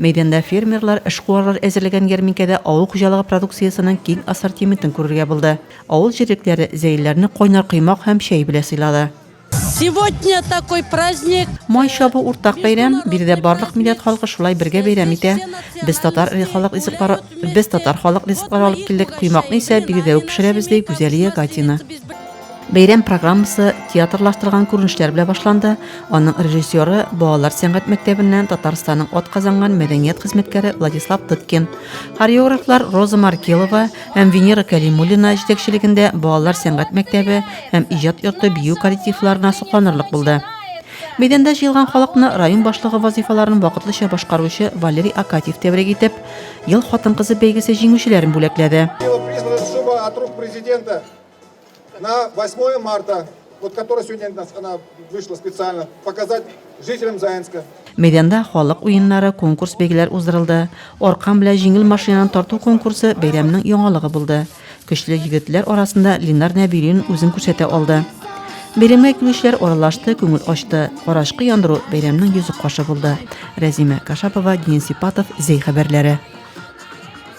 Мәйданда фермерлар эшкуарлар әзерләгән ярминкәдә авыл хуҗалыгы продукциясенең киң ассортиментын күрергә булды. Авыл җирлекләре зәйлеләрне кайнар коймак һәм чәй белә сыйлады. Сегодня такой праздник. Май чабу уртак бәйрәм, биредә барлык милләт халкы шулай бергә бәйрәм итә. Без татар халык ризыклары без татар халык ризыклары алып килдек, коймакны исә биредә үк пешерәбез, ди Гүзәлия Гатина. Бәйрәм программасы театрлаштырган күренешләр белән башланды. Аның режиссеры балалар сәнгать мәктәбеннән Татарстанның от казанган мәдәният хезмәткәре Владислав Тыткин. Хореографлар Роза Маркелова һәм Венера Калимуллина җитәкчелегендә балалар сәнгать мәктәбе һәм иҗат йорты бию коллективларына сокланырлык булды. Мәйданда җыелган халыкны район башлыгы вазифаларын вакытлыча башкаручы Валерий Акатьев тәбрик итеп, Ел хатын-кызы бәйгесе җиңүчеләрен бүләкләде. Его признана сума от рук президента На 8 марта, вот которая сегодня нас, она вышла специально, показать жителям Заинска. Мәйданда халык уеннары, конкурс бәйгеләр уздырылды. Аркан белән җиңел машинаны тарту конкурсы бәйрәмнең яңалыгы булды. Көчле егетләр арасында Линар Нәбилин үзен күрсәтә алды. Бәйрәмгә килүчеләр аралашты, күңел ачты. Карашкы яндыру бәйрәмнең йөзек кашы булды. Рәзимә Кашапова, Денис Сипатов, Зәй хәбәрләре.